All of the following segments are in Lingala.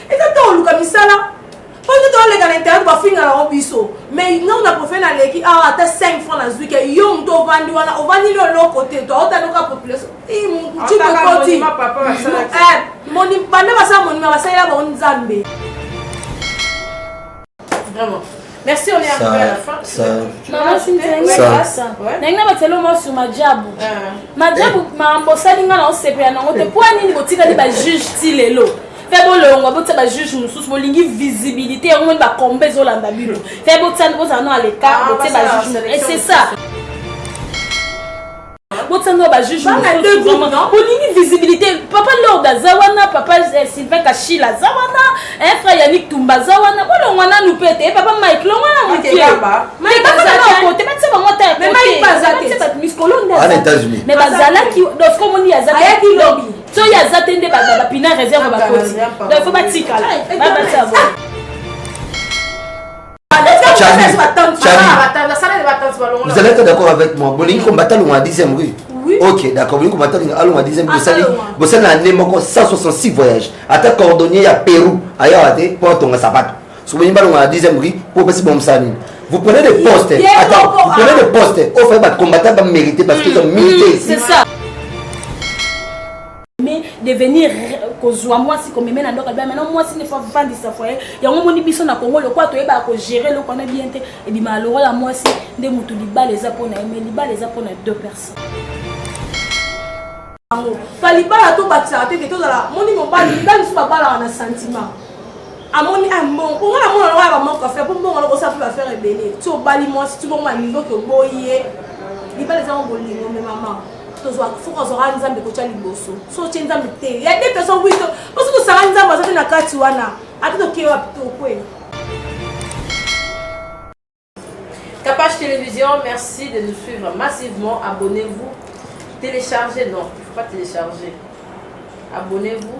eza ntango oluka misala mpo te toleka na internet bafinga nango biso mais ngai na profe naleki awa ata 5 franc nazwi ke yo moto ovandi wana ovandi lio eloko te toaotanoka population mokoti banda basala monima basalela bango nzambe Vraiment. Merci, on est arrivé à la fin. Ça, maman Cynthia, ça, ça. Nangi na batelo mo sur majabu. Ah. Majabu eh. ma mbosali nga na osepe ya nango te. Mpo nini botikali ba juge ti lelo? Fais bolongwa botia ba juge mosusu bolingi visibilité yango moni bakomba ezolanda bino. Fais botia bozala no aleka ah, botia ba juge. Et c'est ça. botanga ba juge bolingi visibilité papa lord aza wana papa eh, sylvain kashila aza wana eh, frère yannick tumba aza wana bolongwa nanu mpe te eh, papa mike longwa na mokebakote batisa bango ata yakoteana états-unis mais bazalaki dosko moni azayaki lobi soki aza te nde bapina réserve bakoti donc fo batikala babatisa Vous allez être d'accord avec moi. Bolingi combattant longa 10e rue. Oui. Ok, d'accord. Bolingi combattant longa 10e rue. Bosali bosali na année moko 166 voyages. Ata cordonnier ya Pérou aya wate po tonga sapato. Sobolingi balonga na 10e rue po pesi bon msani. Vous prenez des postes. Attends, vous prenez des postes. Offrez votre combattant va mériter parce qu'ils ont mérité ici. C'est ça. mais devenir kozwa mwasi komeme na ndoka bamana mwasi nde fois vandisa foye yango omoni biso na kongo lokola toyebaka kogere eloko wana bien te ebimaka lokola mwasi nde motu libala eza mpona ye mais libala eza mpona deux personnes yango pa libala tobakisaka te te tozala moni mobali mibali mosusu babalaka na sentiment amoni ah, mbongo mpo nga namona lokola bamanke affaire mpo mbongo loko osala mpe baffaire ebele ti obali mwasi ti bongo banivo ke oboyi ye libala eza ngo bolingo me mama tozwa soki azwaka nzambe kotya liboso so otye nzambe te ya de personne wiso po soki osala nzambe aza te na kati wana ata tokee wapi tokwela Kapash Télévision, merci de nous suivre massivement. Abonnez-vous. Téléchargez, non, il ne faut pas télécharger. Abonnez-vous.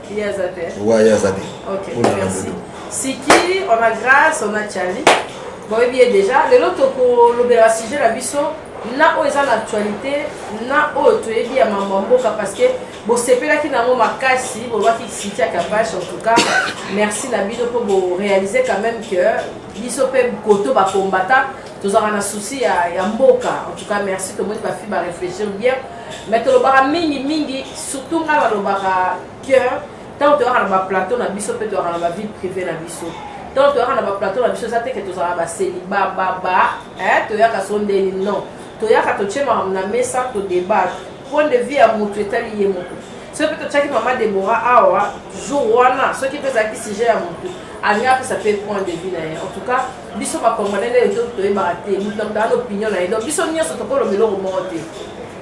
Ye aza te. Ouais, ye aza te. Ok, Oyo na merci. Bodo. Siki, on a grâce, on a Charlie. boyebi ye déjà lelo tokolobela sujet na biso na oyo eza na actualité na oyo toyebi ya mambo ya mboka parce que bosepelaki na yango makasi bolobaki sitia kapash en tout cas merci na bino mpo borealise quand même que biso mpe koto bakombata tozalaka na souci ya, ya mboka en tout cas merci tomoni bafi barefléchir bien mais tolobaka mingi mingi surtout ngai balobaka que ntango toyaka na baplateau na biso mpe toyaka na bavie privé na biso ntango toyaka na baplateau na biso eza teke tozalaka baseliba baba toyaka so ndeni non toyaka totie makambo na mesa todebate point de vue ya motu etali ye moko soki mpe totyaki mama debora awa jour wana soki mpe ezalaki sujet ya motu alingi apesa mpe point de vue na ye en tout cas biso ba congolais nde ezo toyebaka te moto na moto aa na opinion na ye donc biso nyonso tokoloba eloko moko te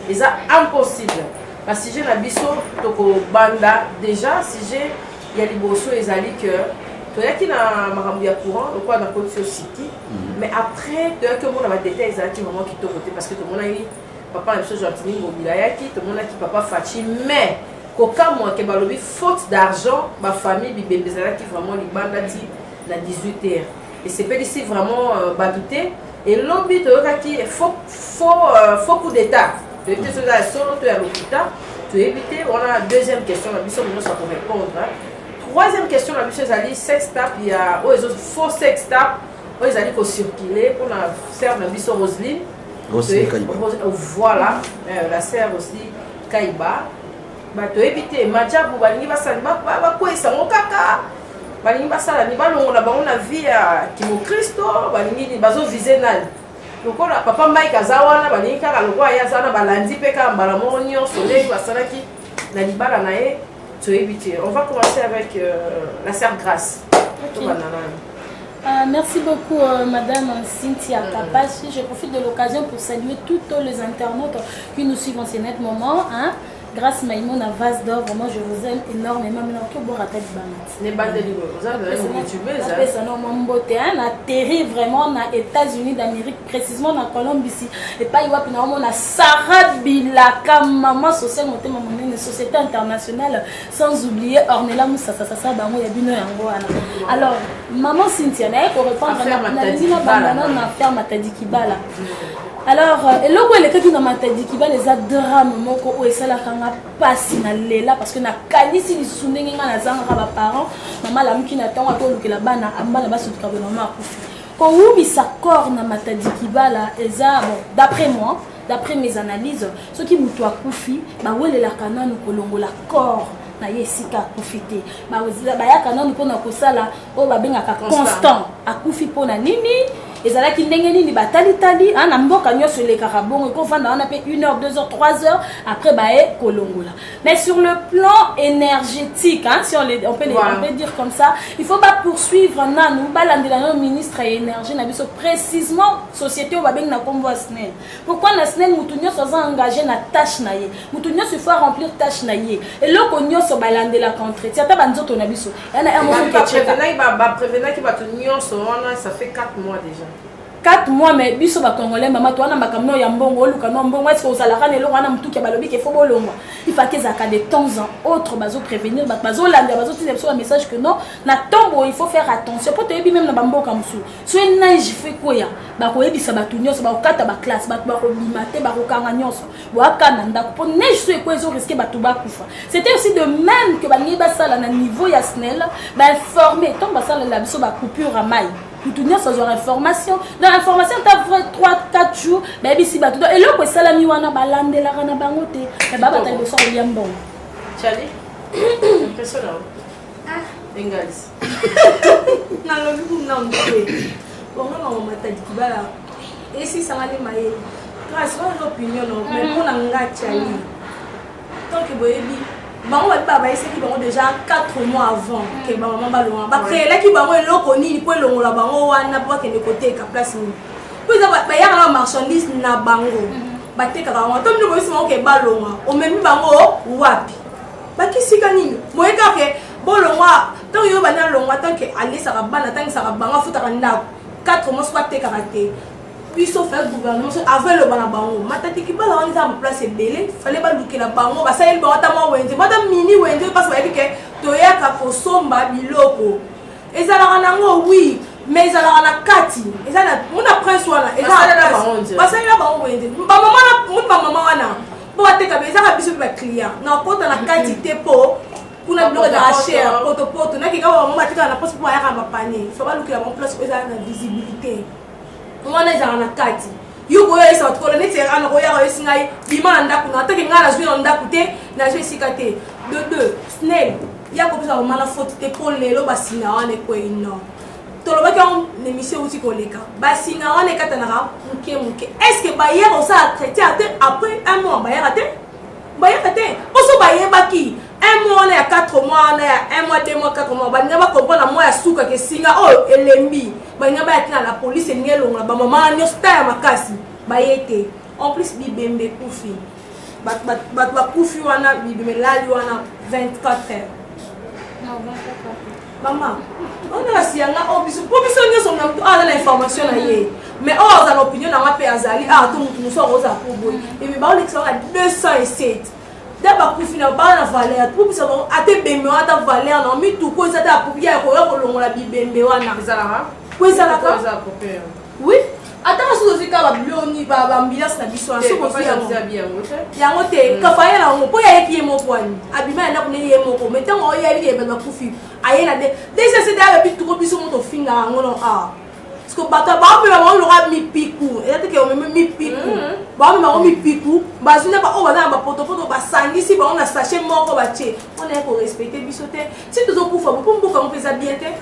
eza impossible basujet na biso tokobanda déjà sujet ya liboso ezali que toyaki na makambo ya courant lokola nakotisi yo siki mhm. mais après toyaki omona badetail ezalaki vraiment kitoko te parce que tomonaki papa na biso gentini ngobila ayaki tomonaki papa faci mais kokamwa ke balobi faute d'argent bafamille bibembe ezalaki vraiment libanda ti na 18 heures esepelisi vraiment euh, bato te elobi toyokaki faux euh, coup d'état toyebi te soki eza ya solo to ya lokuta toyebi te wana deuxième question na biso nyonso akorépondre troisième question na biso ezali sex tap ya oyo ezo faux sex tap oyo ezali kocircule mpona serve na biso roseline voilà euh, la serre aussi kaiba bato oyebi te majabu balingi basala bakweyisa yango kaka balingi basala ni balongola bango na vie ya kimokristo balingi ni bazovise nani lokola papa mike aza wana balingi kaka lokola ye aza wana balandi mpe kaka mbala moko nyonso ndenge basalaki na libala na ye toyebi te on va commencer avec euh, la sœur grace tobanda nani Euh, merci beaucoup, euh, Madame Cynthia mm. Kapashi. Je profite de l'occasion pour saluer tous les internautes qui nous suivent en ce net moment. Hein. Grace Maïmo na vase d'or vraiment je vous aime énormément mais que bon rata libangati. Ne bande libre vous avez une youtubeuse. Na pesa no mambote hein na terre vraiment na États-Unis d'Amérique précisément na Colombie ici et pas iwapi na mona Sarah Bilaka maman sociale motema monene société internationale sans oublier Ornella Moussa ça ça ça bango ya bino yango wana. Alors maman Cynthia na ko répondre na na na na ferme Tadikibala. alors euh, eloko elekaki na matadiki bana eza drame moko oyo esalaka nga mpasi na lela parce que nakanisi lisusu ndenge nga nazangaka baparent mama alamuki na ntango ata olukela bana bana basotuka boye mama akufi kowumisa corps na matadiki bala eza bon d'après moi d'après mes analyses soki moto akufi bawelelaka nanu kolongola corps na ye esika akufi te bayaka nanu mpona kosala oyo babengaka constant akufi mpo na nini ezalaki ndenge nini batalitali ah, na mboka nyonso elekaka bongo ekofanda wana mpe 1 heure 2 heures 3 heures après baye kolongola mais sur le plan énergétique hein, si on, les, on, peut les, voilà. on peut dire comme ça il faut bapoursuivre nanu balandela nano ministre ya énergie na biso précisement société oyo babengi na nkombo ya snel pourquoi na snel motu nyonso aza engagé na tâche na ye motu nyonso il faut aremplir tâche na ye eloko nyonso balandelaka entretien ata banzoto na biso baprevenaki bato nyonso wana ça fait 4 mois déjà 4 mois mais biso bacongolais mama towana makambo nao ya mbongo oluka nao mbongo eske ozalaka na eloko wana motuki ya balobi ke fo bolongwa ifaki ezalaka de temps en autre bazoprévenir bato bazolanda bazotinda biso bamessage que non na ntongo il faut faire attention mpo toyebi meme na bamboka mosusu so enage fe kweya bakoyebisa bato nyonso bakokata baklasse bato bakobima te bakokanga nyonso boyaka na ndako mpo neige so ekwe ezo riske bato bakufa c'était aussi de même que balingi basala na niveau ya snel bainforme ntango basalela biso bacoupure ya mai mutu nyonso azwaka information donc information ta vrai 3 4 jours bayebisi bato donc eloko esalami wana balandelaka na bango te me babata liboso kolia mbongo nalobi kuna moke bongo na mamataki kibala esisangani mayele grâce oyo opinion no mais mpo na nga cali donc boyebi bango babi babayisaki bango déjà 4 mois avant ke bamama balonga bakreelaki bango eloko nini mpo elongola bango wana mpo bakende koteka place nini mpo eza bayaka na marchandise na bango batekaka yango to mino boyisi bango ke balonga omemi bango wapi bakisika nini boyekake bolongwa ntango yo banda longwa ntanke alesaka bana atangisaka bango afutaka ndako 4 mois soko atekaka te biso fai gouvernement so avant eloba na bango matatiki bala wana eza baplace ebele fale balukela bango basaleli bango ata mwa wenze bata mini wenze mpasi bayebi ke toyaka kosomba biloko ezalaka nango wi mais ezalaka na kati eza na mona prince wana basali na bango wenze bamama na moni bamama wana mpo bateka ezaka biso mpe baclient nakota na kati te mpo kuna biloko ezalaka cher potopoto nakeka bango batikala na place mpo bayaka bapane fa balukela bango place oyo ezala na visibilité wana ezalaka na kati yo koyoyesa bato kolo neti ana koyaka yosi ngai bima na ndako na atake ngai nazwi na ndako te nazwi esika te de deux snel ya kopesa bamana faute te mpo lelo basina wana ekwei non tolobaki yango na émission euti koleka basinga wana ekatanaka moke moke est ce que bayaka osala chrétien te après un mois bayaka te bayaka te oso bayebaki un mois wana ya 4 mois wana ya 1 mois 2 mois 4 mois balinga bakomprendre mwa ya suka ke singa oyo oh, elembi balinga baya tina la polise elingi elongola bamama nyonso ta ya makasi baye te en plus bibembe kufi bato bakufi wana bibembe elali wana 24 heures Mama, on a si yanga o biso, po biso nyoso na mtu ala na information na ye. Mais o azala opinion na ngape azali, ah to mtu muso akoza ko boy. Et mais ba ole kisaka 207. Da ba kufi na ba na valeur, po biso ba ate bembe ata valeur na mi tu ko zata apupia ko yo ko longola bibembe wana. Ezala ha? Ko ezala ka? Ko ezala ko père. Oui, ataka soki ozwi kaka babiloni baambiance na biso wana soki ozwi yango yango te mm. kafaye na yango mpo ye ayeki ye moko wani abima ya ndako nde ye moko mai ntango oyebi ye bato bakufi aye na de deja se de abebi tuko biso moto ofinga yango no a ah. parceke bato baomema bango lokola mipiku eza teke omeme mipiku mm. baomema bango mipiku bazwi na baoyo baza na bapotopoto basangisi bango na sache moko batie mpo na ye korespecte biso te si tozokufa bo mpo mboka yango mpe eza bien te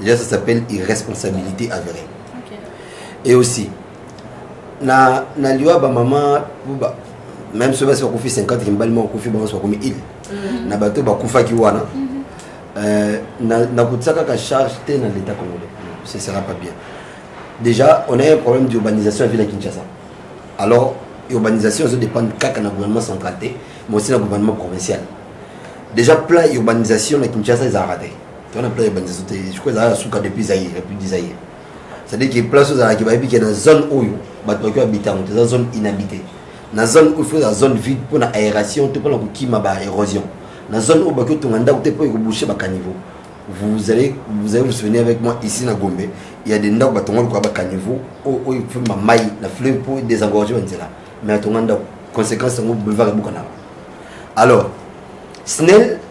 Déjà, ça s'appelle irresponsabilité avérée. Okay. Et aussi, na, na liwa ba maman, ba, même ceux qui ont fait 50 qui mbalima okufi bango soit comme il. Mm. Na bato ba kufa ki wana. Mm -hmm. euh, na na kutsaka ka charge te na l'état congolais. Ce sera pas bien. Déjà, on a un problème d'urbanisation à ville Kinshasa. Alors, urbanisation ça dépend kaka na gouvernement central te, mais aussi na gouvernement provincial. Déjà plein urbanisation na Kinshasa ils ont raté. wana plan ebandisa te je crois ezalaka suka depuis zaire république du zaire c'est-à-dire que place ozalaki bayebi ke na zone oyo bato baki babita yango te eza zone inhabité na zone oyo faut eza zone vide mpo na aération to mpo na kokima ba érosion na zone oyo baki otonga ndako te mpo ekobouche bacaniveau vous allez vous allez vous souvenir avec moi ici na gombe il y a des ndako batonga lokola bacaniveau oyo efulma mai na fleuve mpo désengorge banzela mais atonga ndako conséquence yango boulevard ebukanaka alors snel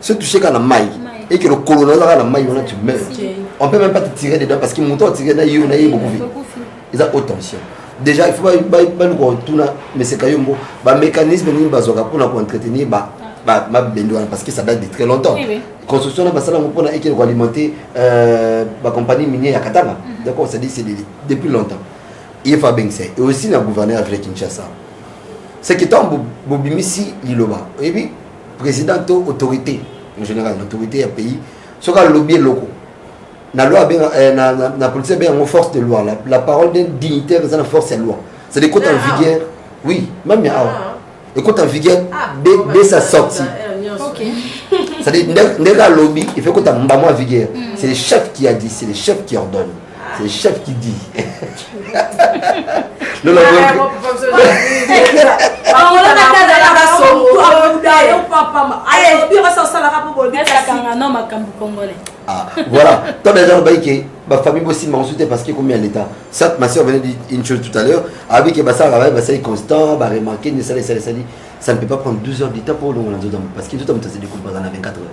se toucher kaka na mai et que lokolo naza kaka na mai wana tu meurs on peut même pas te tirer dedans parce que moto atire na yo na ye bokufi eza haute tension déjà il faut baluka otuna meseka yo mbo bamécanisme nini bazwaka mpona koentretenir mabende wana parce que ça date de très longtemps construction na basala yango mpona ekele koalimenter euh, bacompagnie minier ya katanga mhm. donc on se dit c'est depuis longtemps ye faut abengisa et aussi na gouverneur ya ville kinshasa c'est que ntango bobimisi liloba oyebi president to autorité en général l'autorité ya pays soki alobi eloko na loi abenga eh, na, na, na politique abenga yango force de loi la, la parole d'un dignitaire eza na force ya loi c'est de côté en ah. vigueur oui même ya awa ah. ekota en vigueur ah, dès, dès sa sortie okay. c'est-à-dire ndenge alobi il faut ekota mbamo en vigueur mm. c'est le chef qui a dit c'est le chef qui ordonne C'est chef qui dit. Lola ah, voilà toi déjà lobayi ke bafamille bosimba mosusu te parce que ekomi ya l'état sat ma soeur venait une chose tout à l'heure abi ke basalaka baye basali constant baremarke nde esala esali esali ça ne peut pas prendre 12 heures du temps mpo olongola nzoto yango parce que nzoto ya moto asili kompaza na 24 heures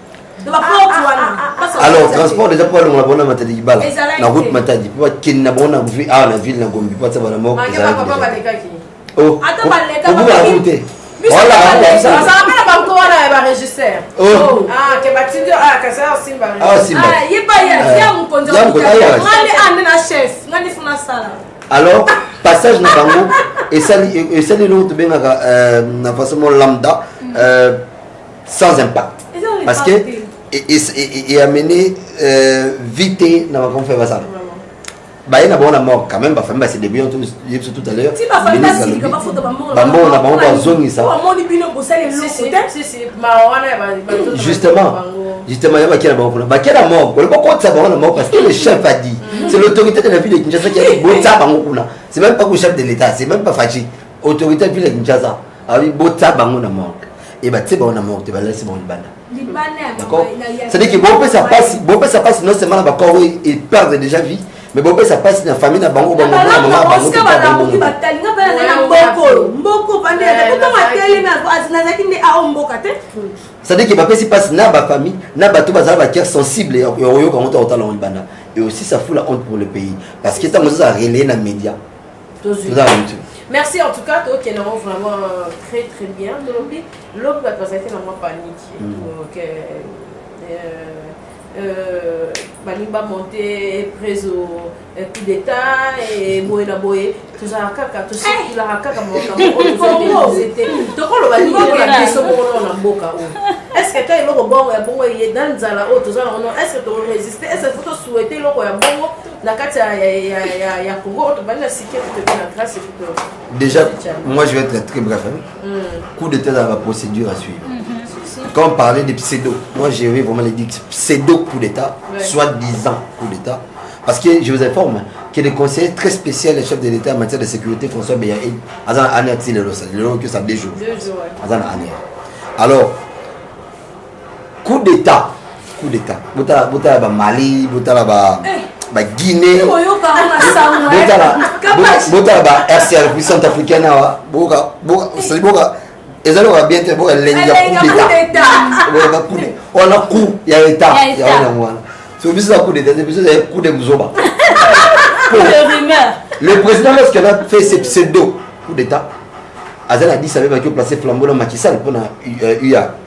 alors transport déjà mpo balongola bango na matadi libala na route matadi mpo bakende na bango na awa na ville na gombi mpo atia bana moko ezalaki te voilà alors passage na bango esali eloko tobengaka na façon mo lambda sans impact parce que et amené euh, vite na makambo fai basala baye na bango na mort quand même bafamille base débrouillant ye biso tout à l'heure bambongo na bango bazongisa justement justement ya bakia na bango kuna bakia na mort kole bokotisa bango na mort parce que le chef a dit mm. c'est l'autorité de la ville de Kinshasa qui a dit botisa bango kuna c'est même pas le chef de l'état c'est même pas Fatshi autorité de la ville de Kinshasa awi botsa bango na morgue e batie bango na morgue te balalisi bango libanda d'accord c'est-à-dire que bopesa pasi bopesa pasi non seulement na bakor oyo e perdre déjà vie mais bopesa pasi na famille na bango bango na mama bango te bango batalinga bana na mboko mboko bande kuto matele na azazaki nde ao mboka te c'est-à-dire que bapesi pasi na ba famille na bato bazala ba cœur sensible ya koyoka yango to kotala yango libanda et aussi ça fout la honte pour le pays parce que ntango ozozala relaye na média tozwi merci en tout cas tokende yango vraiment euh, très très bien tolobi lobi bato bazalaki na mwa paniki mm. donc euh, euh, balingi bamonte prise coup d'état e boye na boye tozalaka kaka tosekulaka kaka makambo oyo te tokoloba nini na biso moko nao na mboka oyo estce ta eloko bongo ya bongo eye na nzala oyo toza na ono estce toresiste estce fo tosuete eloko ya bongo na kati ya, ya, ya, ya, ya congo oyo tobandi na sike totoki na grâce ekupe déjà moi je vais être très bref hein? mm. coup d'état ezalaka procédure à suivre mm -hmm. quand on parlait de pseudo moi je vais vraiment les dire pseudo coup d'état ouais. soit disant coup d'état parce que je vous informe que le conseiller très spécial le chef de l'état en matière de sécurité françois beya aza na ane ya ti lelo lelo que ça deux jours aza na ane alors coup d'état coup d'état botala botala ba mali botala ba eh. ba guinée eh, botala eh. botala ba rcr puis centre africaine awa boka boka c'est boka ezali koka bien te boka elengi ya coup d'état boka coup d'état wana coup ya état ya wana wana so biso na coup d'état biso ezali coup de buzoba le président lorsqu'il a fait ses pseudo coup d'état azali na 10 abebaki oplace flambeau na makisal mpona ua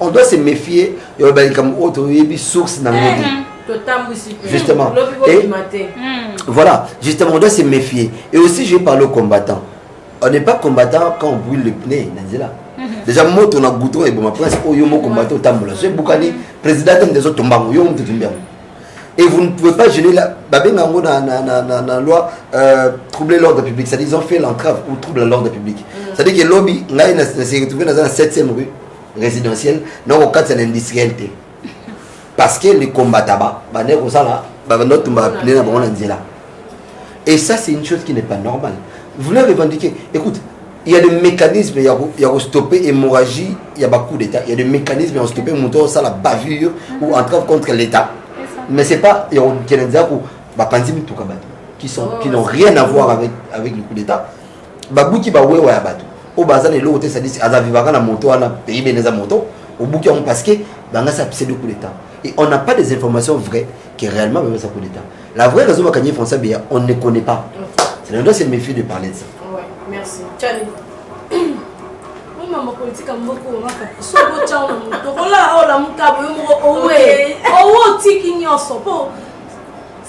on doit se méfier ya oyo balikambo oyo toyebi source na ngodi mhm. justement et hmm. voilà justement on doit se méfier et aussi je vais parler aux combattants on n'est pas combattant quand on brûle le pneu na nzela mhm. déjà moto na goutron eboma prince oyo oh, mo combattant otambola so ebukani président te nde ezotombango yo moto etombi yango et vous ne pouvez pas gêner la babenga yango na, na, na, na, na loi euh, troubler l'ordre public c'est-à-dire ils ont fait l'entrave ou trouble à l'ordre public mm. c'est-à-dire que lobi ngai na se retrouver naza na 7e rue résidentielle na kokatisa na industriel te parce que les combattaba bande kosala bande otumba bapine na bango na nzela et ça c'est une chose qui n'est pas normale vous voulez revendiquer écoute il y a des mécanismes ya ko ya ko stopper hémorragie ya ba coup d'état il y a des mécanismes ya ko stopper moto au sala bavure ou entrave contre l'état mais c'est pas ya ko kenza ko ba panzi mituka bato qui sont qui n'ont rien à voir avec avec le coup d'état ba buki ba wewa ya bato o baza na eloko te sadisi aza vivaka na moto wana pays bene eza moto obuki yango parce que bangasi apeseli coup d'état Et on n'a pas des informations vraies que réellement Bemba sa coup d'état. La vraie raison Bakanye François Beya, on ne connaît pas. C'est là on doit se méfier de parler de ça. Ouais, merci. Tchani. Oui, maman politique a beaucoup on va faire. Ce beau tchao na muto. Kola ola mukabo yo moko owe. Owo tiki nyoso po.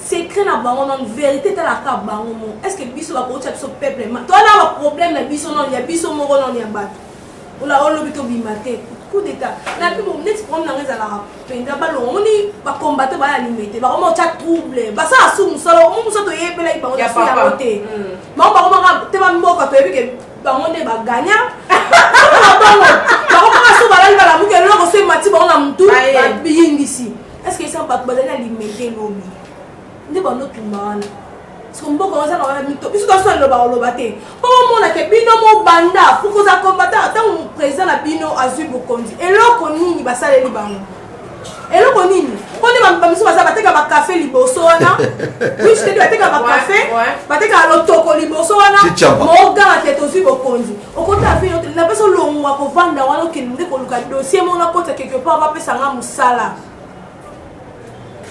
secret na bango nano vérité etalaka bango moko est ce que biso bakotya biso peuple ma toa na baproblème na biso nano ya biso moko nano ya bato ola olobi tobima te coup d'état nabi bo neti problème nanga ezalaka mpenza balonga omoni bacombate baya lime te bakoma otya trouble basala su mosala omo mosala toyebelaki bango nasu yango te bango mm. bakomaka te bamboka toyebi ke bango nde baganya bango bakomaka su balali balamuki eloko so emati bango na motu bayingisi est ce que esa bato bazali na lime te lobi nde banotumba wana siko mboka oza na wana mito biso toso aloba oloba te mpo bomona ke bino mobanda pokoza combattant ntango président na bino azwi bokonzi eloko nini basaleli bango eloko nini mpo nde bamisu baza bateka bakafe liboso wana wichitedi bateka bakafe bateka lotoko liboso wana moganga te tozwi bokonzi okota afe yote na mpeso longwa kovanda wana okende nde koluka dossier mona kota quelque part bapesanga mosala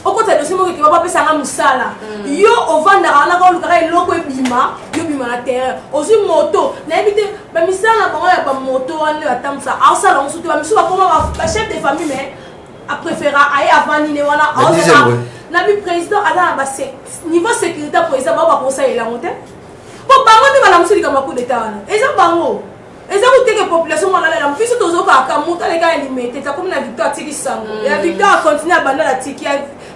okota dosie moko ekeba bapesa nga mosala mm. yo ovandaka wana ka olukaka eloko ebima yo bima na terrain ozwi moto nayebi te bamisala na bango ya bamoto wana oyo atambwisa aosala mosu te bamisu bakoma bachef de famille mais apréféra aye avandi ne wana aozaa na bipresident aza na ba niveau sécurité président bango bakosalela yango te po bango nde balamusi likambo ya coup d'état wana eza bango eza koteke population mwana lela biso tozokaka moto aleka ya limete takomi na victoire atiki sango mm. ya victoire acontinue abanda na tiki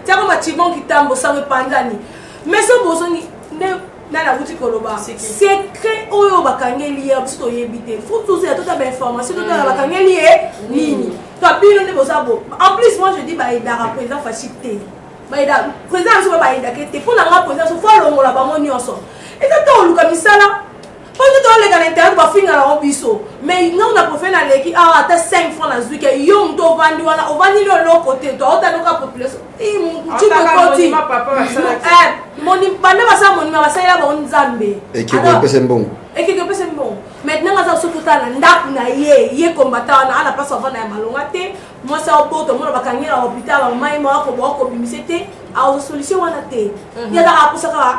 tiako macibon kitambo sango epandani mais so bozongi nde nani akuti koloba secret oyo bakangeli ye biso toyebi te fo tozela tota bainformation totala mm. bakangeli ye mm. nini to bino nde boza bo en plus moi je dis baedaka président fashi te baeda président biso babaedake te mpo na nga président so fo alongola bango nyonso eza to oluka misala Oyo nde toleka na internet bafinga nango biso mais ngai na profe na leki awa ata 5 franc nazwi ke yo moto ovandi wana ovandi nde oloko te to aotanoka population mokoti banda basala monima basalela bango nzambe ekeko epese mbongo ekeko epese mbongo maintenant nga aza soki otala na ndako na ye ye kombata wana ana mpasi avanda ya malonga te mwasi aopoto omona bakangi na hopital bamai mawakobawakobimisa te aoza solution wana te ye azaka akosa kaka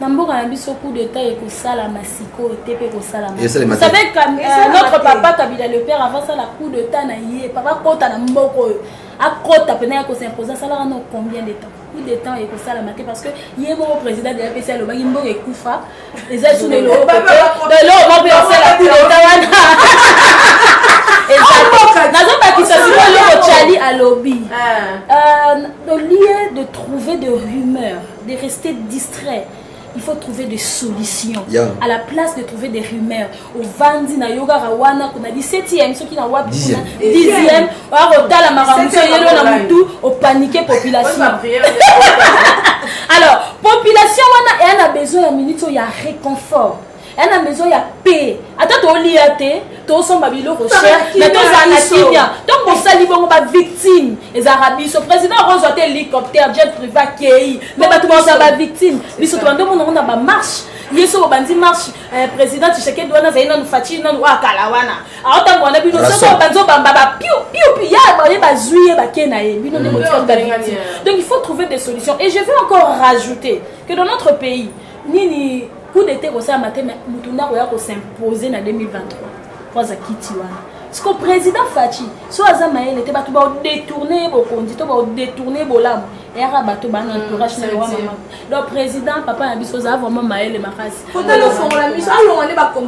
na mboka na biso coup d'état ekosalama sikoyo te mpe ekosalamavsavez euh, notre papa kabila le père avant asala coup d'état na ye papa akota na mboka oyo akota mpena ya kosimpose asalaka no combien de temps coup de temps ekosalama te parce que ye moko président de apc alobaki mboka ekufa eza su lelo moko mpe osala coup d'état wana nazobakisa sikoyo eloko chali alobi ah. euh, au lieu de trouver de rumeurs de rester distrait il faut trouver des solutions yeah. à la place de trouver des rumeurs ovandi na yo kaka wana kuna 17e soki na wapi kuna 10e akotala makambo so yelo na motu opanike population alors population wana eya na besoin ya minute oyo ya réconfort ya na maison ya pe ata tolia te tosomba biloko cher mais tozala na kimia ntango bosali bongo bavictime ezalaka biso président akozwa te hélicoptère jet privé akei me bato baoza bavictime biso tobanda omona ngo na bamarche ye so obandi marche eh, président tshisekedi wana azali nanu faci nanu oyo akala wana aotango wana bino soki obanzi obamba bapiu piu piu ya baye bazwi ye bake na ye bino nde mm. botika donc il faut trouver des solutions et je veux encore rajouter que dans notre pays nini coup d'etat ekosalama te motu nde akoya kosimposer na 2023 mpo aza kiti wana siko président faci so aza mayele te bato baodetourne ye bokonzi to baodetourne ye bolamu eyaka bato bana entourage na yowa mama donc président papa na biso oza vraiment mayele makasi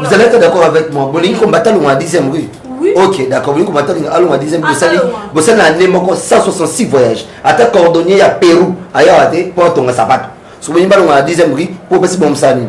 Vous allez être d'accord avec moi. Bolingi combattre le 10e rue. ok d'accord bolingi komata olinga alonga dixième bosali bosali na année moko 166 voyage ata cordonnier ya pérou ayawa te mpo atonga sapato soki bolingi balonga na dixième ri mpo opesi bomosala nini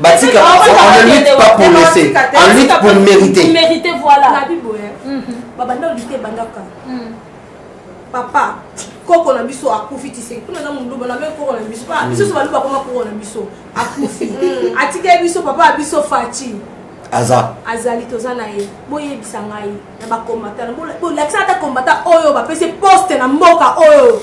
batika on ne lutte pas pour laisser on lutte pour mériter mériter voilà na bibo hein mhm. babanda lutte bandaka mhm. papa koko na biso akufi tiseki kuna na muluba na meme koko na biso pa biso so baluba koma koko na biso akufi mhm. atikeli biso papa ya biso faci aza azali toza na ye boyebisa ngai na bakombata bolakisa ata kombata oyo bapesi poste na mboka oyo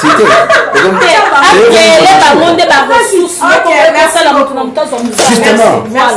site akele bango nde baressource mokosala moto na moto azwa mosalaaaaa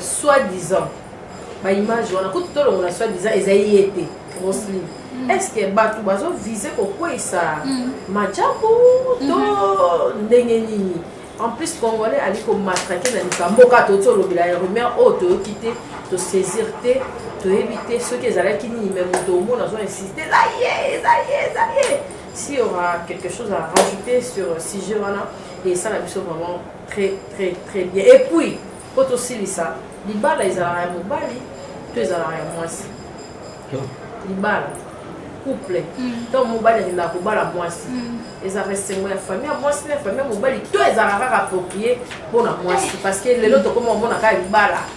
soit disant baimage wana kutu tolongola soit disant ezali ye te rosline mm. est ce que bato bazovise kokweisa mm. macaku to mm-hmm. ndenge nini en plus congolais ali komatrake na likambo kaka toti olobela ya rumeur oyo toyoki te tosaisir te toyebi te soki ezalaki nini me moto omona azo insiste eza ye eza ye eza ye Si y aura quelque chose à rajouter sur euh, sujet wana et ça la biso vraiment très très très bien. Et puis po tosilisa libala ezalaka ya mobali to ezalaka ya mwasi libala couple mm. to mobali akendaka kobala mwasi mm. ezalaka esengo ya famille ya mwasi na ya famille ya mobali to ezalaka kaka approprié mpo na mwasi parce que lelo tokoma omona kaka libala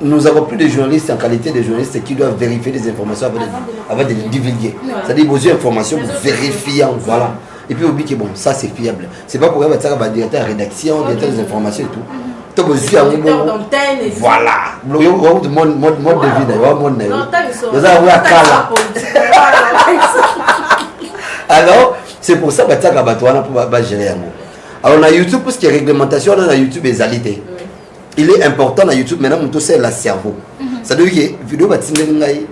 nous avons plus de journalistes en qualité de journalistes qui doivent vérifier des informations avant de, avant de les divulguer. C'est-à-dire, vous avez information, vous vérifiez, voilà. Et puis, vous dites que bon, ça c'est fiable. C'est pas pour avoir un directeur de rédaction, directeur des informations et tout. to bozwi yango voilà mode mode mode de vie na yo wa mode na yo oza yango ya kala alors c'est pour ça batiaka bato wana mpo bagere yango alors na youtube puisque réglementation wana na youtube ezali te il est important na youtube maintenant moto osalela cerveau mhm. cestadire ke video batindeli ngai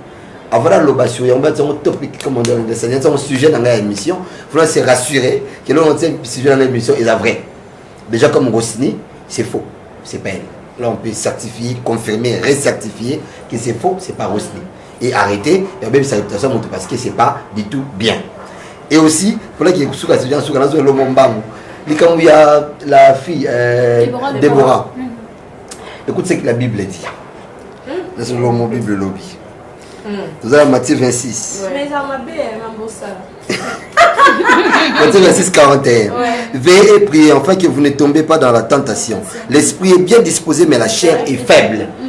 avant naloba sur yango bati yango topic comme ondesani yati yango sujet na ngai ya émission fona se rassurer ke longo tie sujet na ngai émission eza vrai déjà comme rosini c'est faux c'est pas elle là on peut certifier confirmer recertifier que c'est faux c'est pas rosini et arrêter et obebisa réputation ya moto parce que c'est pas du tout bien et aussi polaki ekosuka sija suka nazo elongo mbangu likambo ya la fille euh, debora mm. écoute ce que la bible dit mm. nazo elongo bible lobi mm. toza na matthieu 26 Matthieu 26, 41. Ouais. Veillez et priez afin que vous ne tombez pas dans la tentation. L'esprit est bien disposé, mais la chair est faible. Mm.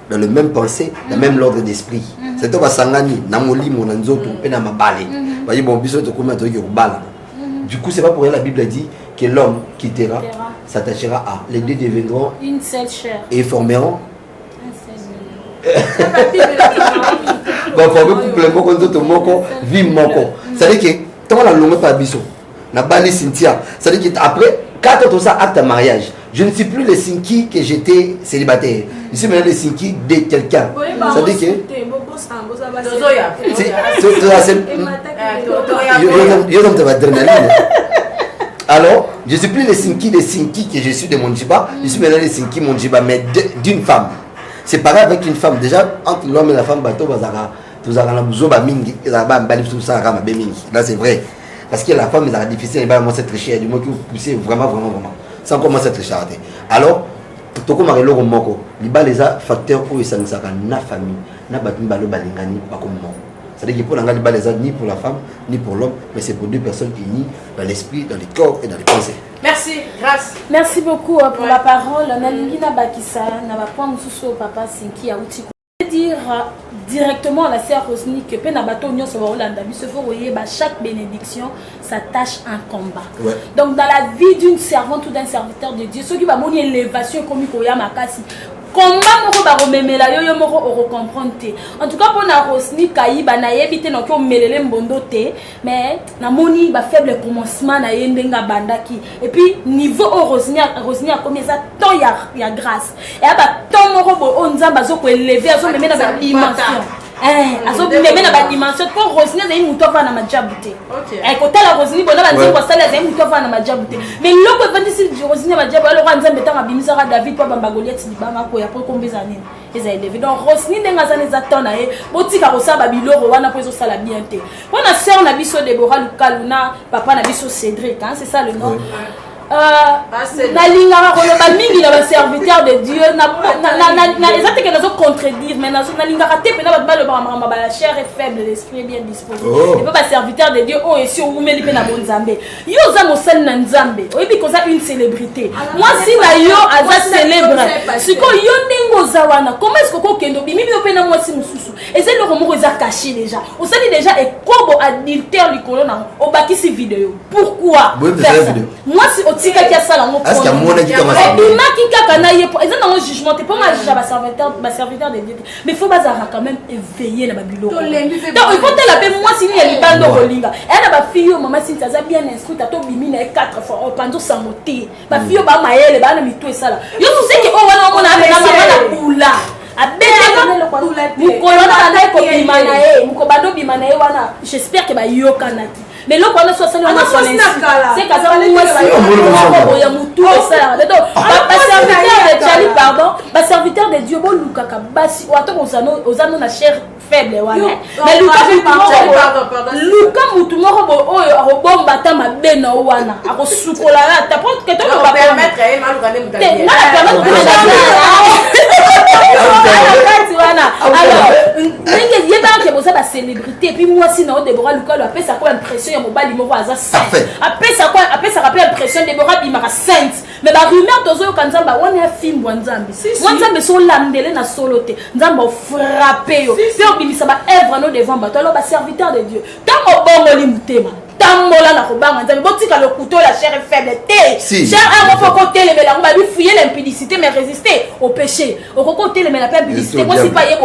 dans le même pensée na même l'ordre d'esprit mhm. c'est to basangani na molimo na nzoto mpe na mabale mhm. baye bon biso tokoma toyoki kobala mhm. du coup c'est pas pour rien la bible dit que l'homme quittera s'attachera à les deux deviendront une seule chair et formeront baforme couple moko nzoto moko vie moko c'est-à-dire que ntango nalongwe mpa biso nabali cynthia cest dit après 4 ans ça acte mariage je ne suis plus le sinki que j'étais célibataire je suis maintenant le sinki de quelqu'un ça dit que yo nomte baadrénaline alors je suis plus le sinki de sinki que je suis de monjiba je suis maintenant le sinki monjiba mais d'une femme c'est pareil avec une femme déjà entre l'homme et la femme bato bazaka tozalaka na buzoba mingi ezalaka bambali biso tosalaka mabe mingi là c'est vrai parce que la femme ezalaka difficile ebala mwasi atriche du moins ki pousse vraiment vraiment vraiment sans quoi mwasi atrichaka te alors tokomaka eloko moko libala eza facteur oyo esangisaka na famille na bato mibale balingani bakomi moko c'est-à-dire que mpo na ngai libala eza ni pour la femme ni pour l'homme mais c'est pour deux personnes unies dans l'esprit dans le corps et dans les pensées merci grâce merci beaucoup pour la parole nalingi nabakisa na bapoint mosusu oyo papa sinki auti dire directement à la sœur Rosny que pe na bateau nionso ba Hollanda biso faut koyeba chaque bénédiction s'attache un combat. Ouais. Donc dans la vie d'une servante ou d'un serviteur de Dieu, ceux qui va moni élévation comme koya makasi combat moko bakomemela yo yo moko okocomprendre te en tout cas mpo na rosni kayiba nayebi te noki omelele mbondo te mais namoni ba faible commencement na ye ndenge abandaki et puis niveau oyo rosini rosini akomi eza temps ya, ya grâce eya ba temps moko boye oyo nzambe azokoeleve azomeme na badimension Eh, azomeme na badimension mpo rosini azali moto avana na majabu te eh, kotala rosini bona banzembo asali azali moto avana na majabu te mais loko efandisi rosini ya majabu aloko ya nzambe ntango abimisaka david mpo abamba goliati libanga koya mpo ekombeza nini eza eleve donc rosni ndenge aza na eza temps na ye botika kosala babiloko wana mpo ezosala bien te mpo na sœur na biso debora lukalu na papa na biso cédric hein, c'est ça le nom oui. Euh, nalingaka koloba mingi na baserviteur de dieu eza teke nazo contredire mais nalingaka te mpena bato balobaka makambo bala chair et faible l'esprit bien disposé epe oh. baserviteur de dieu oyo esi owumeli mpe na bonzambe yo oza mosali na nzambe oyebi koza une célébrité mwasi na yo aza célèbre sikoyo yo ndenge oza wana koma esiko kokende obimi bino mpe na mwasi mosusu eza eloko moko eza caché déjà osali déjà ekobo adultère likolo nango obakisi video pourquoi mwasi otikaki asala yango obimaki kaka na ye eza nango jugement te mpo nga juge ya baserviteur de dieu te mais faut bazalaka quand même éveillé na babiloko donc il faut tala mpe mwasi nini ya libanda okolinga eya na bafille oyo mama sinti aza bien instruite ata obimi na ye 4 fois opanzi osango te bafille oyo bamayele baa na mitu esala yo suseki oyo wana omona amena mama na bula abetmokolo na banda ekobima na ye mokobanda obima na ye wana j'espère ke bayokanaki mais eloko wana so asali yango asolanseke aza mwasi ya motu esalaka donc baserviteur de jali pardon baserviteur de dieu bolukaka basi ata oza no na chere faible wana luka mutu moko bo oyo akobomba ata mabe na yo wana akosukola yo ata po ketoaakati wana alors ndenge yebaka boza bacélébrité depuis mwasi na yo debora lukalo apesaka oyo impression ya mobali moko aza saint apesaka apesaka mpe impression debora abimaka sainte me barumeur tozoyoka nzambe awani afimbwa nzambe mwa nzambe so olandele na solo te nzambe ofrape yo mpe obimisa baevre no devant bato alo baserviteur de dieu ntango obongoli motema tambola na kobanga nzambe botika lokuto ya chair est faible te si. chair yango mpo okotelemela yango babi fuye na impudicité mais résister au péché okoki otelemela mpe impudicité kosi mpa ye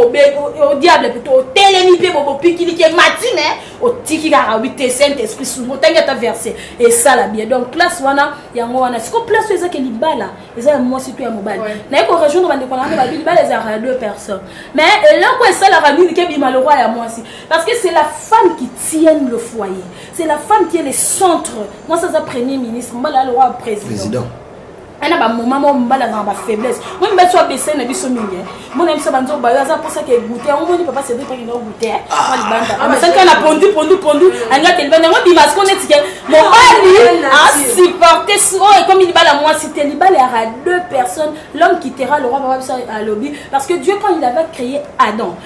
odiable plutôt otelemi mpe bobopikiliki emati mais otiki kaka obi te saint esprit sungu otangi ata verset esala bien donc place wana yango wana siko place oyo ezaki libala eza ya mwasi to ya mobali naye korejoindre bandeko na yango babi libala ezalaka ya deux personnes mais eloko esalaka nini kebima lokwa ya mwasi Parce que c'est la femme qui tienne le foyer. C'est la femme qui est le centre. Moi, ça, c'est premier ministre. Moi, là, le roi président. Président. ana bamoma moko mobali azanga bafaiblesse moi mibali so abesai na biso mingi mona biso banzo bayo aza mposaka egute yango moni papa cedri mpe kenda ogute mwa libanda amasaki ka na pondu pondu pondu alinga te libanda yango bima siko neti ke mobali asupporte oyo ekomi libala ya mwasi te libala ya ra deux personnes l'homme qui tera le roi papa biso alobi parce que dieu quand il avait créé adam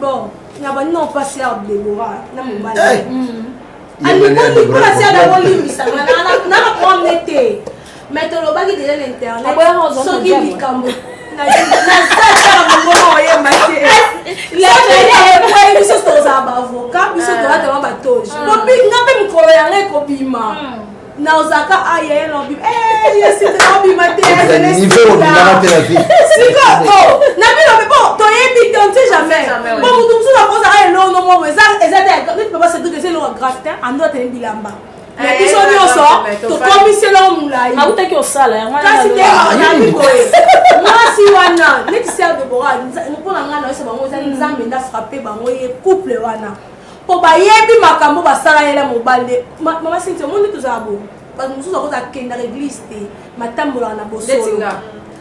bon na bandi na opasi ya debora na mobali eh! hmm. alingoli mpo na siada kolimbisa nanga promne te mai tolobaki deja na internet soki likambo biso tozala baavoka biso tolatama batoji nga mpe mikolo yanga ekobima naozaka aye ye lobi sikoyo na bino mpe po toyebi te onti jamais po motu mosusu akozaka elongo moko eza te neti papa sedrik eza elongo gratin ando atene bilamba na biso nyonso tokomisi elongo molai akutaki osala yangokasi te nani boye mwasi wana neti ser debora mpo na ngai nayosa bango eza nzambe nda frappe bango ye couple wana po bayebi makambo basala yela mobali nde mama sinti omoni nde tozala bo bato mosusu akoza akendaka eglise te matambolaka na bosolo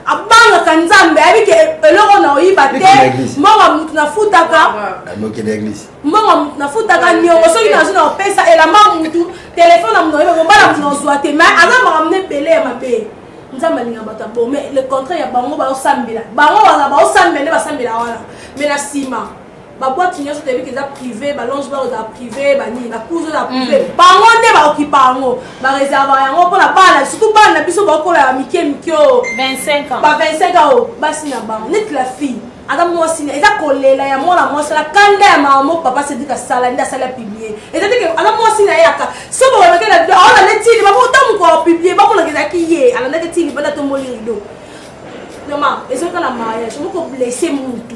abangaka nzambe ayebi ke eloko na oyiba te mbongo motu nafutaka mbongo motu nafutaka niongo soki nazwi na opesa elamba motu telefone na motu oyebi kobala motu nazwa te mai aza makambo na ebele ya mabe nzambe alinga bato ya bo mais le contraire ya bango baosambela bango wana baosambela nde basambela wana mais na nsima ba boîte nyonso toyebi ke eza privé ba longe bar eza privé banini ba cours eza privé mm. bango nde baokipa yango bareserva yango mpona bana surtout bana na biso baokola ya mike mike o ba 25 ans o basi na bango neti la fille aza mwasi na eza kolela ya mwana mwasi na kanda ya mama moko papa sedika asala nde asali apiblie eza teke aza mwasi na ye aka so bakolaki na bido aolanda etili bakota moko apiblie bakolaki ezalaki ye alandaki etili banda tomboli rido noma ezokala mariage moko blesse mutu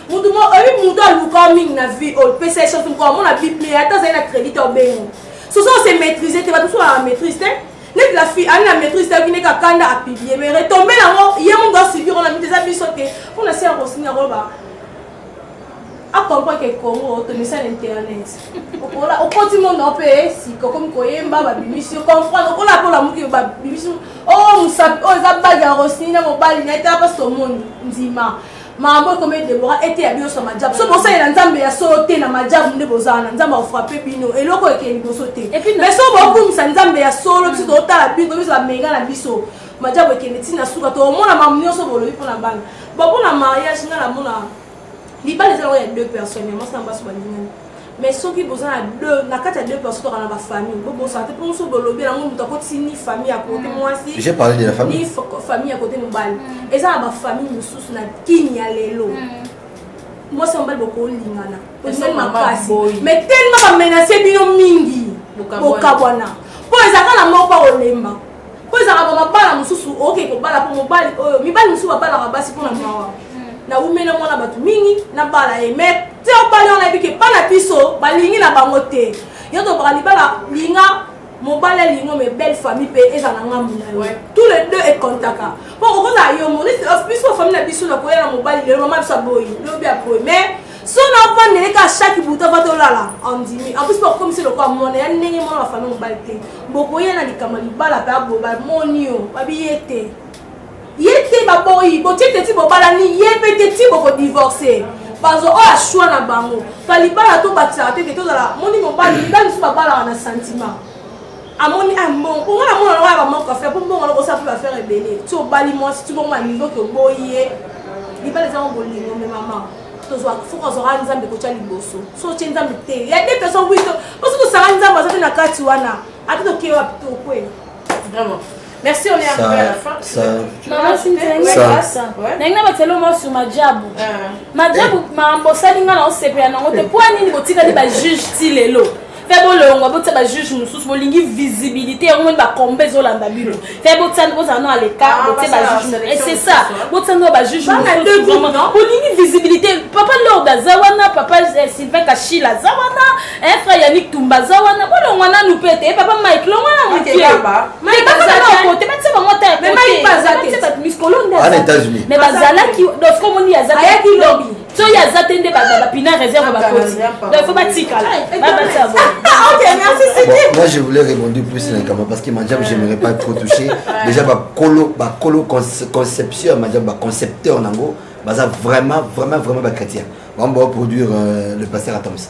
mutu mo oyebi mutu aluka mingi na vie oyo pesa echance moko amona bip me ata azali na crédit obengo soso ose maîtrise te bato mosusu na maîtrise te neti la fille ani na maîtrise te ayoki ndenge akanda apiblie me retombe nango ye mundu asubir ona mite eza biso te mpo na se ya kosini yango ba acomprendre ke congo tomisa na internet okola okoti monde ope eh, sika okomi koyemba babimisi yo comprendre okola mpo olamuki babimisi o oh, mosapi oyo oh, eza bage ya rosini na mobali na ye tala mpasi omoni ndima makambo ekomeli debora eteya bino sa majabu so bosalela nzambe ya solo te na majabu nde bozala na nzambe akofrape bino eloko ekee liboso te mai so bokumisa nzambe ya solo biso totala bino biso bamenga na biso majabu ekende ntina suka tokomona mamu nyonso bolobi mpo na bana bo mpo na mariage ngai namona libala eza yango ya deux personnes ya mwasi na basi balingani mais soki boza na deux na kati ya deux personnes toka na ba famille bobosana te mpo so bolobi yango moto akotisi ni famille ya kote mm. mwasi ni famille ya kote mobali mm. eza na bafamille mosusu na kini ya lelo mm. mwasi ya mobali bokolingana ozali makasi mais telema bamenase bino mingi bokabwana mpo ezaka na moko akolemba mpo ezalaka ba mabala mosusu oke kobala mpo mobali oyo mibali mosusu babalaka basi mpo na mawa naumela mwana bato mingi nabala ye mai te obali wana yebi ke mpa na biso balingi na bango te yo tobaka libala linga mobali alingo me belle famille mpe eza na ngambu na yo tous les deux ekontaka mpo okozala yo monisi biso famille na biso nakoya na mobali lelo mama biso aboyi lobi aboyi mais sona avandele ka chaque buta va tolala andimi en plus bakomisi lokola mwana ya ndenge mwana bafami mobali te bokoya na likambo libala mpe abo bamoni yo babi ye te ye te baboyi botie te ti bobalani ye mpe te ti bokodivorce bazo oyo ashwa na bango ka libala tobakisaka te te tozala moni mobali mibali mosusu babalaka na sentiment amoni ah, mbongo mpo nga namona lokola bamoko affaire mpo mbongo loko osala mpe baffaire ebele ti obali mwasi ti bongo na niveau ke oboyi ye libala ezango bolingo me mama tozwa soki ozwaka nzambe kotya liboso so otye nzambe te ya de personne wi to po soki osanga nzambe aza te na kati wana ata tokei wapi tokwei vraiment Merci, on est ça, arrivé à la fin. Ça... Maman, si ndenge na batelo mwa sur majabu majabu mambo osali nga na osepela nango te mpo nini botikali bajuge ti lelo fe bolongwa botia bajuge mosusu bolingi visibilité yango moni bakomba ezolanda bino fe botiani bozala no aleka ah, botie bajuge eh, c'est ça botiani no bajuge bolingi visibilité papa lord aza wana papa eh, sylvain kashila aza wana eh, frère yannick tumba aza wana bolongwa nanu mpe te papa mike longwa na motiebakotebati bango ata ya bato miskolonde mais bazalaki doskomoni azaki soki aza te nde bapina réserve bakoti donc faut batikala babatisa Moi, je voulais répondre plus na likambo parce que Manjab, j'aimerais pas trop toucher. Déjà, bakolo, bakolo concepteur, Manjab, ba concepteur nango, baza vraiment, vraiment, vraiment ba chrétien. On va produire euh, le pasteur Atoms.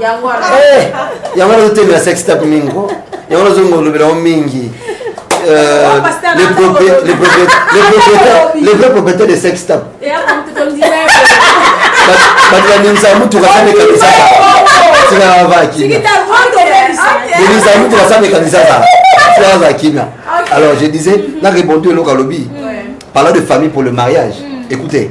yango wana eh, yango wana ozotemela sex tape mingi ko yango wana ozongolobela yango mingi Euh, les, propri les, propri les, propriétaires, les vrais propriétaires de sex tape bato bandimisa mutuka sa mekanisa tika bavaa kimia bandimisa mutuka sa mekanisa sa tika bavaa kimia alors je disais na répondu eloko alobi parlant de famille pour le mariage mm. écoutez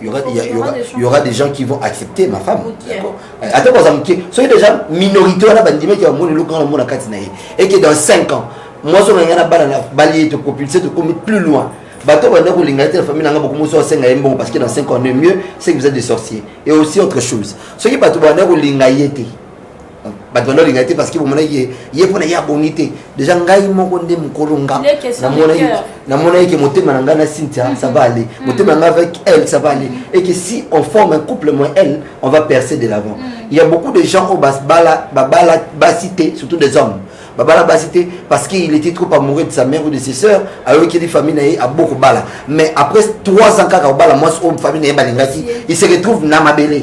Il y, aura, il, y a, il, y aura, il y aura des gens qui vont accepter ma femme. Attends, par exemple, soyez déjà minorité, on a bandit, mais qui a un monde, le grand monde à Katinaï. Et qui est dans 5 ans, moi, je suis un balle, balayé, te propulser, te commettre plus loin. bato banda kolinga te na famille nanga bokomosi asenga ye mbongo parce que dans 5 ans ne mieux c'est que vous êtes des sorciers et aussi autre chose soki bato banda kolinga ye te bato bando alinga te parce que bomonaki ye ye mpona ye abongi te déjà ngai moko nde mokolo nga namonaki ke motema na ngai na cynthia mm-hmm. ça va aller mm-hmm. motema na ngai avec elle ça va aller et que si on forme un couple moi elle on va percer de l'avant mm-hmm. il y a beaucoup de gens oyo babala babala basi te surtout des hommes babala basi te parce qu'il était trop amoureux de sa mère ou de ses sœurs ayokeli famille na ye abo kobala mais après trois ans kaka kobala mwasi oyo famille na ye balingaki il se retrouve na mabele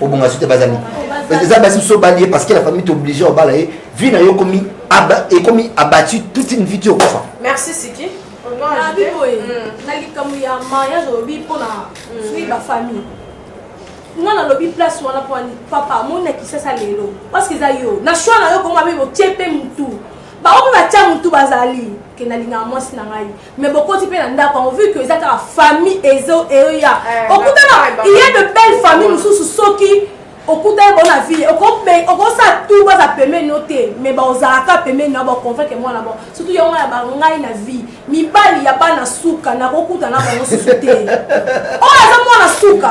obonga soki bazali eza basi biso obali ye parce que la famille t'oblige obala ye vie na yo ekomi ekomi abattu toute une vie ti okufa merci siki nabi boye hmm. na likambo ya mariage olobi mpona hmm. soki bafamille nga nalobi place wana mpo papa amoni na kisasa lelo parceke eza yo na shoi na yo bongo abe botie mpe motu bango mpe batya motu bazali ke nalingaka mwasi na ngai mais bokoti mpe na ndako yango vu que eza kaka famille ezo eoya eh, okutana il y a de belle famille mosusu soki okutani bango na ville okosala tu baza pembeni no te mais baozalaka pembeni na baconvaincre mwana bango surtout yango ya bangai na vie mibali ya bana suka nakokuta na bango susu te oyo aza mwana suka